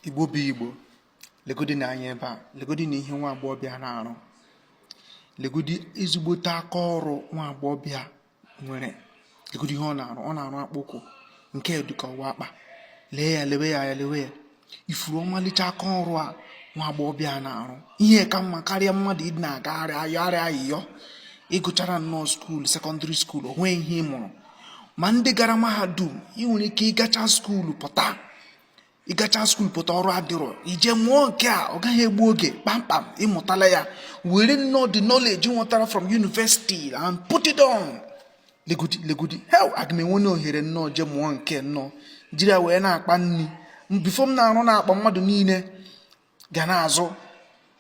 igbo bụ igbo legodi na anya ebe a legodi na ihe nwa agbọghọbịa na-arụ legodi ezigbote aka ọrụ nwa agbọghọbịa nwere legodi ihe ọ na-arụ ọ na-arụ akpụkwụ nke dịka ọ wụ akpa lee ya lewe ya ya lewe ya ị fụrụ ọmalịcha aka ọrụ a nwa agbọghọbịa na-arụ ihe ka mma karịa mmadụ ịdị na-agagharị ayọgharị ayịyọ ị gụchara nnọọ skuulu sekọndịrị skuulu o nweghị ihe ị mụrụ ma ndị gara mahadum ị nwere ike ịgacha skuulu pụta ịgacha skuul pụta ọrụ adịrọ i je mụọ nke a ọ gaghị egbu oge kpamkpam ị mụtala ya were nnọọ the knowledge i nwetara from university and put it on legodi legodi heo aga m enwe na ohere nnọọ je mụọ nke nnọọ jiri ya wee na-akpa nri before m na-arụ na-akpa mmadụ niile ga na-azụ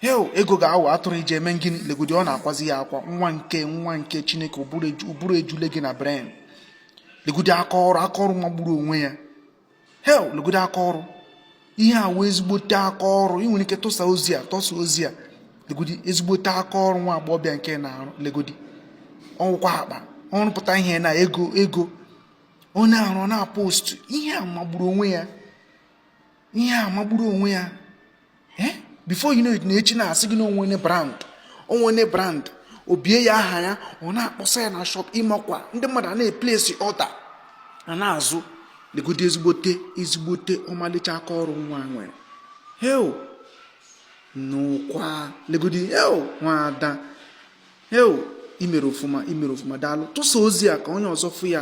heo ego ga-awụ atụrụ iji eme gịnị legodi ọ na-akwazi ya akwa nwa nke nwa nke chineke ụbụrụ ejule gị na brain legodi aka ọrụ aka ọrụ magburu onwe ya heo legodi aka ọrụ ihe a wụ ezigbote aka ọrụ ị nwere ike tụsa ozi a tụsa ozi a legodi ezigbote aka ọrụ nwa agbọghọbịa nke na-arụ legodi ọ wụkwa akpa ọ rụpụta ihe na ego ego ọ na-arụ na-apostu ihe a magburu onwe ya ihe a magburu onwe ya eh? before you know it na echi na-asị gị na o nweene brand o nweene brand o bie ya aha ya ọ na-akpọsa ya na shop ị makwa ndị mmadụ a na-eplesi order a na-azụ legodi ezigbote ezigbote ọmalịcha aka ọrụ nwa a nwere heo nụkwa legodi heo nwada heo i mere ọfụma i mere ọfụma daalụ tụsa ozi a ka onye ọzọ fụ ya